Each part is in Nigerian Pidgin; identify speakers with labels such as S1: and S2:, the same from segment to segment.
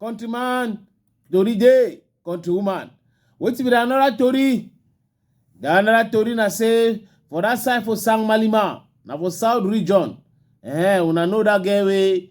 S1: countryman tori dey countrywoman wetin be the another tori the another tori na say for that side for sang malima na for south region eh una know that girl wey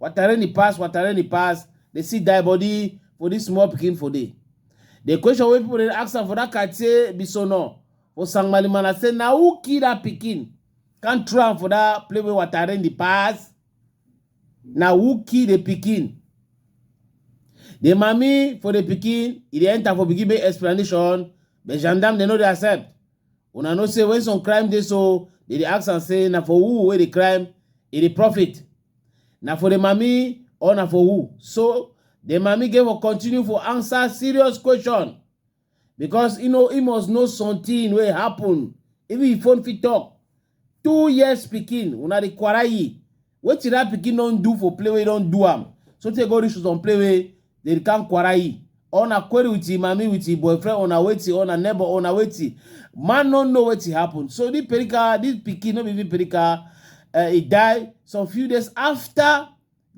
S1: watareni pass watareni pass dey see die body for dis small pikin for dey the question wey people dey ask am for dat katie bisono for sangmalimana say na who kill dat pikin come throw am for dat place wey watareni pass na who kill the pikin the mami for the pikin e dey enter for pikin make explanation but gendarme dem no dey accept Una know say when some crime dey so, they dey ask am say na for who wey dey crime e dey profit? Na for the mami or na for who? So the mami get for continue for answer serious question because e know e must know something wey happen even if phone fit talk. two years pikin una dey quarrel wetin that pikin don do for play wey don do am so tey go reach to some play wey dey come quarrel or na query with him mami with him boyfriend or na wetin or na neighbor or na wetin man no know wetin happen so this perika this pikin no be even perika uh, he die some few days after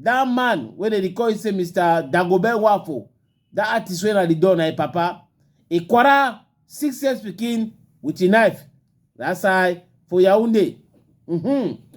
S1: That man wey dem dey call him say Mr. Dagobert Wafo, that artist wey na the don na him papa, he quarrel six years pikin with him knife that side for Yaounde. Mm-hmm.